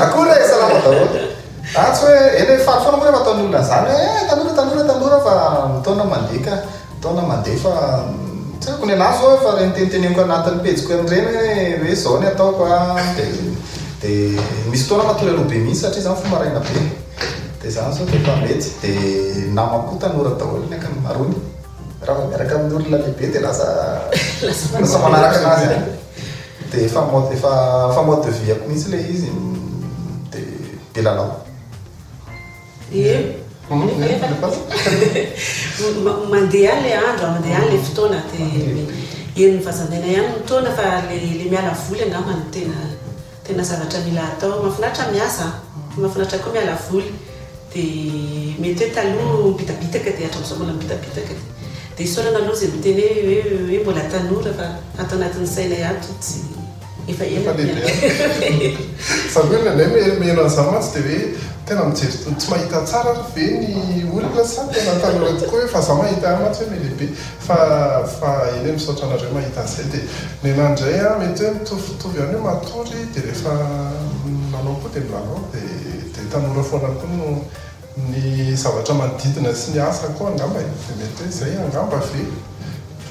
Akore e, salama daholo. Ah, tsy hoe, eny hoe faly foana moa rehefa ataon'olona izany hoe eh, tanora, tanora, tanora fa ny taona mandeha ka, ny taona mandeha fa mm, tsy haiko ny anà zao efa reniteniteneniko anatin'ny pejiko an'ireny hoe hoe izao ny ataoko ah, dia dia misy fotoana matory aloha be mihitsy satria izaho mifoha maraina be. Dia zany zao rehefa mety dia namako tanora daholo ny ankamarony. Raha vao miaraka amin'ny olona lehibe dia lasa lasa manaraka anazy any. Dia efa mode efa efa mode de vie-ako mihitsy ilay izy dia be lalao. Ie. Mandeha any ilay andro, mandeha any ilay fotoana dia eny Vazamena ihany ny taona fa ilay miala voly angamba no tena Tena zavatra mila atao. Mafinaritra ny miasa an! Mafinaritra koa miala voly. Dia mety hoe taloha mibitabitaka dia hatramizao mbola mibitabitaka. Dia isaorana aloha izay miteny hoe hoe mbola tanora fa ato anatin'ny sainay ato tsy efa ela ny fiainana. Sady hoe ilay mihaino an'izany mantsy dia hoe tena mijery tsy mahita tsara ary ve ny olona sa tena tanora tokoa hoe fa za mahita ihany mantsy hoe mihalehibe. Fa fa eny misaotra anareo mahita an'izay dia nenà indray aho mety hoe mitovitovy ihany hoe matory dia rehefa milalao koa dia milalao dia dia tanora foana koa no ny zavatra manodidina sy ny asa koa angamba e dia mety hoe izay angamba ve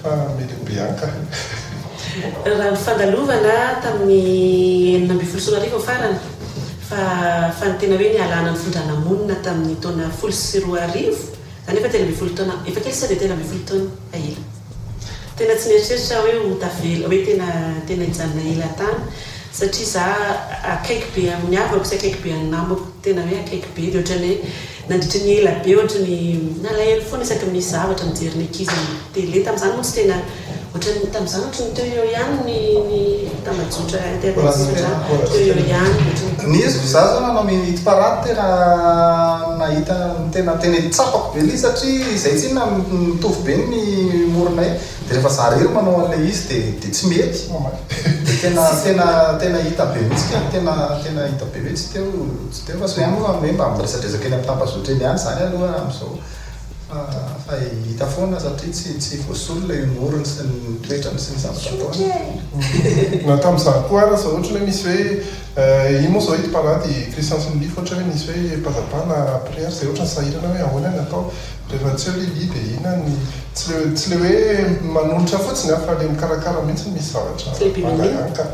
fa melembe ihany kah. Raha ny fandalovana tamin'ny enina ambin'ny folo sy roa arivo farany fa fa ny tena hoe nialana ny findranà monina tamin'ny taona folo sy roa arivo Kanefa telo ambin'ny folo taona efa kely sao dia telo ambin'ny folo taona efa ela. Tena tsy nieritreritra aho hoe ho tavela, hoe tena tena hijanona ela tany satria izaho akaiky be amin'ny havako sy akaiky be an'ny namako, tena hoe akaiky be dia ohatran'ny hoe nandritry ny ela be ohatry ny nalahelo foana isaky ny misy zavatra mijery ny ankizy amin'ny tele, tamin'izany moa tsy tena. Ohatran'ny tamin'izaho ohatry ny teo eo ihany ny ny tambajotra internet satria teo eo ihany ohatry ny Ny hevitro za zao nanao minute par an tena nahita ny tena tena tsapako be le izy satria izay tsy inona mitovy be ny memorinay de rehefa za rery manao an'ilay izy de de tsy mety de tena tena tena hita be mihitsy ka tena tena hita be hoe tsy teo tsy teo fa sonia moa hoe mba miresadresaka eny amin'ny tambazotra eny ihany zany aloha amin'izao Fa hita foana satria tsy tsy voasolona io morony sy ny toetrany sy ny zavatra ataony. Na tamin'izaho koa ary aza ohatrany hoe misy hoe ino moa izao ito parady Christian sy Lily fa ohatrany hoe misy hoe pazapa na prière izay ohatrany sahirana hoe ahoana ny atao rehefa tsy eo Lily dia inona ny tsy le tsy le hoe manolotra fotsiny an fa le mikarakara mihitsy misy zavatra mangalanka.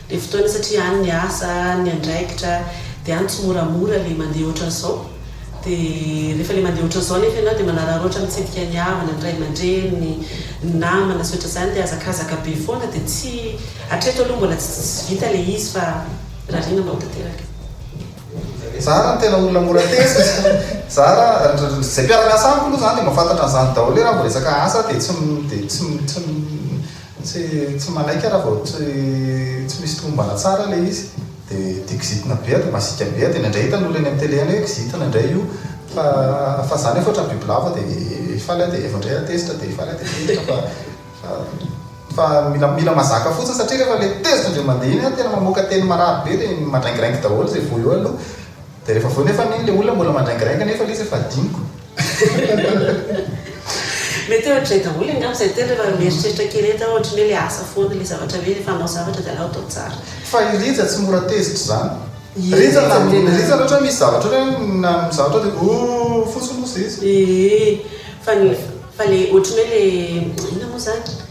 Dia fotoana satria any ny asa, any ny andraikitra, dia any tsy moramora le mandeha ohatran'izao. Dia rehefa le mandeha ohatran'izao nefa ianao dia manararaotra mitsidika ny havana, ny ray aman-dreny, ny ny namana sy ohatran'izany dia hazakazaka be foana dia tsy, hatreto aloha mbola tsy tsy vita le izy fa rarina mba ho tanteraka. Za raha ny tena olona mora tezitra, za raha, zay mpiara-miasa amiko aloha zany dia mahafantatra an'izany daholo hoe raha vao resaka asa dia tsy, dia tsy, tsy. Tsy tsy manaiky raha vao tsy tsy misy tomombana tsara ilay izy dia dia kizitina be dia masiaka be dia indraindray hitan'olona eny amin'ny tele any hoe kizitina indray io fa fa za nefa ohatran'ny bibilava dia hifaly aho dia vao indray hatezitra dia hifaly aho dia tezitra fa fa fa mila mila mazaka fotsiny satria rehefa ilay tezitra indray mandeha iny an tena mamoaka teny marary be dia mandraingiraingy daholo izay voa eo aloha dia rehefa avy eo nefa anie ilay olona mbola mandraingiraingy nefa ilay izy efa adinoko Mety hoe ohatrizay daholo angamba izay teny rehefa mieritreritra kely ety aho ohatrin'ny hoe le asa foana ilay zavatra hoe rehefa hanao zavatra dia aleo atao tsara. Fa i Rija tsy mora tezitra izany. Rija na Rija ohatra hoe misy zavatra ohatra hoe na misy zavatra dia ooh fotsiny hozy izy. Ee fa le ohatrin'ny hoe le inona moa izany?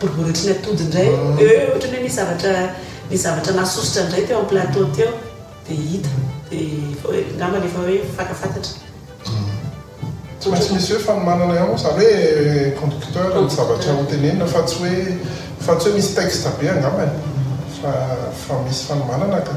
Boriboritry ny atody indray eh ohatry ny hoe misy zavatra misy zavatra nasosotra indray teo amin'ny plateau teo dia hita dia efa hoe angambany efa hoe fantafantatra. Tsy maintsy misy hoe fanomanana ihany moa izany hoe conducteur ny zavatra ho tenenina fa tsy hoe fa tsy hoe misy texte be angambany fa fa misy fanomanana ka.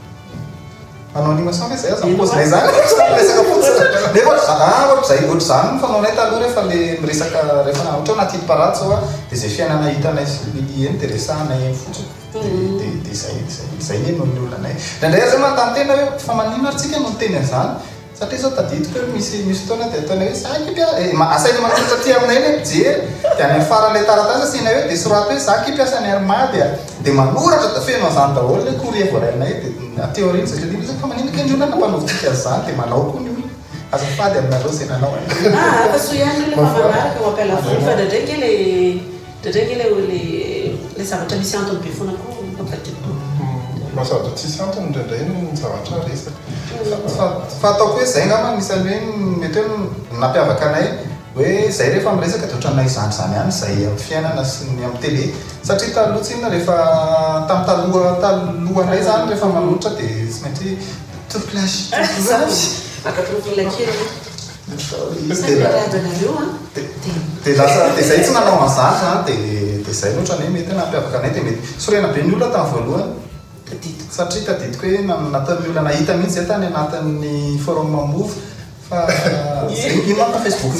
Manao rima sao ve zay aza ny pôzinay zany? Ohatran'ny resaka pôzina. Nefa ohatr- ah, ohatr'izay, ohatr'izany no fanaonay taloha rehefa le miresaka rehefa na ohatra hoe anaty hidiparatsa oa dia izay fiainana hitanay sy Lily eny dia resahanay eny fotsiny. Dia dia dia izay, izay, izay anie no niolana e. Indraindray aza hoe manontany tena hoe fa maninona ary tsika no niteny an'izany? Satria izao tadidiko hoe misy misy fotoana dia ataonay hoe za kipy a! eh, asainay manoratra aty aminay ilay mpijery, dia any amin'ny faran'ilay taratasy asianay hoe dia soraty hoe za kipy asan'i Armand dia dia manoratra dia feno an'izany daholo ilay courrier voarainay dia aty aoriana izay tadidiko hoe fa maninona kay ny olona nampanaovintsika an'izany dia manao koa ny olona azafady aminareo izay nanao an'izany. Ah, hampahasoa ihany ve ilay mpamanaraka ao am-pialavoly fa indraindray ange ilay. Dredrey nge le oe le zavatra misy antony be foana ko mampivadika tompoko. Mba zavatra tsisy antony indraindray ny zavatra resaka fa fa ataoko hoe zay ngamba no isan'ny hoe mety hoe ny nampiavaka anay hoe zay rehefa miresaka de otran'ny izany izany ihany zay amin'ny fiainana sy ny amin'ny tele satria taloha tsinona rehefa tamin'ny taloha taloha ndray zany rehefa manohitra de tsy maintsy hoe toro-pilasy toro-pilasy. Zany maka toro-pilasy kely aloha. Saika randranareo an! Dia lasa, dia izay tsy nanao an'izany izany, dia dia izay loatra anie mety hoe nampiavaka anay, dia mety sorena be ny olona tamin'ny voalohany, tadidiko, satria tadidiko hoe nanatan'ny olona nahita mihitsy izay tany anatin'ny forum move fa ino ma fa facebook,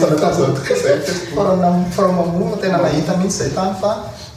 forum move, tena nahita mihitsy izay tany fa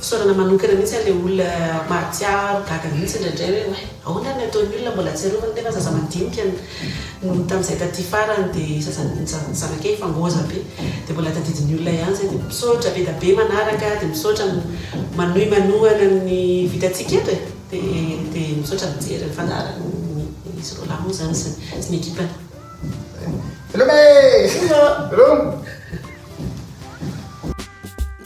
Fisaorana manokana mihitsy an'ilay olona mahatsiaro gaga mihitsy indraindray hoe oay ahoana ny ataon'ny olona mbola atsiarovany nefa zaza madinika no tamin'izay taty farany dia zaza zanakay efa ngôza be dia mbola tadidin'ny olona ihany izay dia misaotra be da be manaraka dia misaotra manohy manohana ny vitantsika eto e dia misaotra mijery ny fandaharan'ny izy roalahy moa izany sy ny ekipany. Veloma e! Veloma!